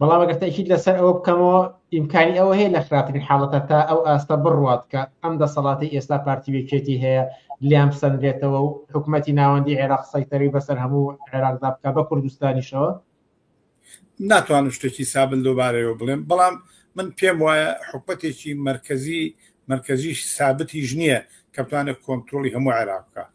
بەڵام ئەگەر تاکیید لەسەر ئەوە بکەمەوە ئیمکانی ئەوە هەیە لە خراپترین حاڵەتە تا ئەو ئاستە بڕوات کە ئەم دەسەڵاتی ئێستا پارتی وێکێتی هەیە لیان بسەندرێتەوە و حکوومەتی ناوەندی عێراق سەیتەری بەسەر هەموو عێراقدا بکە بە کوردستانیشەوە ناتوانم شتێکی سابل دووبارەوە بڵێم بەڵام من پێم وایە حکوومەتێکی مرکزی مرکزیش سابتیش نییە کە بتوانێت کۆنتترۆلی هەموو عێراقکە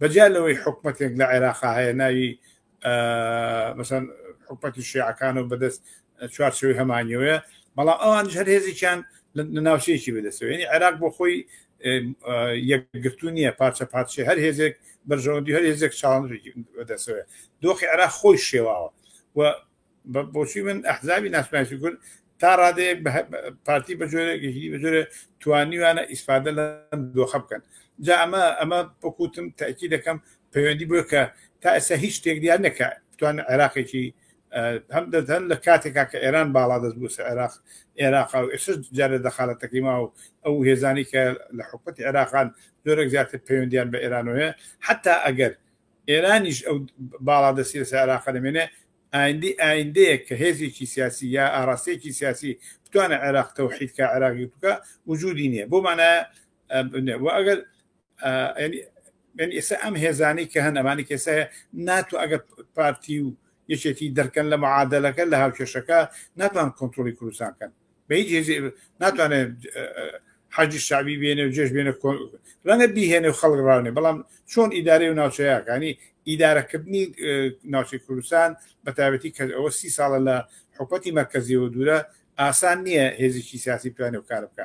بەجیا لەوەی حکومەتێک لە عێراقا هەیە ناوی مەسەن حکومەتی شیعەکان و بەدەست چوارچەوەی هەمانیەوەە بەڵام ئەوان هەر هێزێکیان لە ناوچەیەکی بەدەستەوەێنی عێراق بۆ خۆی یەکگرتو نییە پارچە پارچە هەر هێزێک بەرژەوەندی هەر هێزێک چاڵ بەدەستەوە دۆخی عێراق خۆی شێواوە و بۆچی من ئەحزابی ناسناسی کورد تا ڕادەیەک پارتی بە جۆرەێکی بە جۆرە توانیوانە ئیسفادە لە دۆخە بکەن جا ئەمە ئەمە بکوتم تاکی دەکەم پەیوەندی بۆ کە تا ئێستا هیچ شتێک دیار نەکە بتوان عێراقێکی هەم دەدەن لە کاتێکا کە ئێران باڵا دەست بوو عێراق عێراقا و ئێسش جارە دەخالەتەکەی ما و ئەو هێزانی کە لە حکوومەت عێراقان زۆرەك زیاتر پەیوەندیان بە ئێرانەوەە حتا ئەگەر ئێرانیش ئەو باڵادەستیی لەسەر عێراق دەمێنێ، ئایندەی ئایندەیەک کە هێزێکی سیاسی یا ئاراستەیەکی سیاسی بتوانێ عێراق تەوحید کا، عێراق یەک بکا، وجوودی نییە. بەو مانایە و ئەگەر یانی یانی ئێستا ئەم هێزانەی کە هەن، ئەمانەی کە ئێستا ناتوان ئەگەر پارتی و یەکێتی دەرکەن لە معادەلەکە، لە هاوکێشەکە، ناتوانن کۆنترۆڵی کوردستان بکەن. بە هیچ هێزی ناتوانێت حەجی شعبی بێنێ و جێش بێنە ڕەنگە بیهێنێ و خەڵک ڕاونێ بەڵام چۆن ئیدارەی و ناوچەیەکانی ئیدارەکردنی ناوچەی کوردستان بە تایبەتی کە ئەوە سی ساڵە لە حکوەتی مەرکزیەوە دوورە ئاسان نییە هێزیی سیاسی توانێ و کار بکە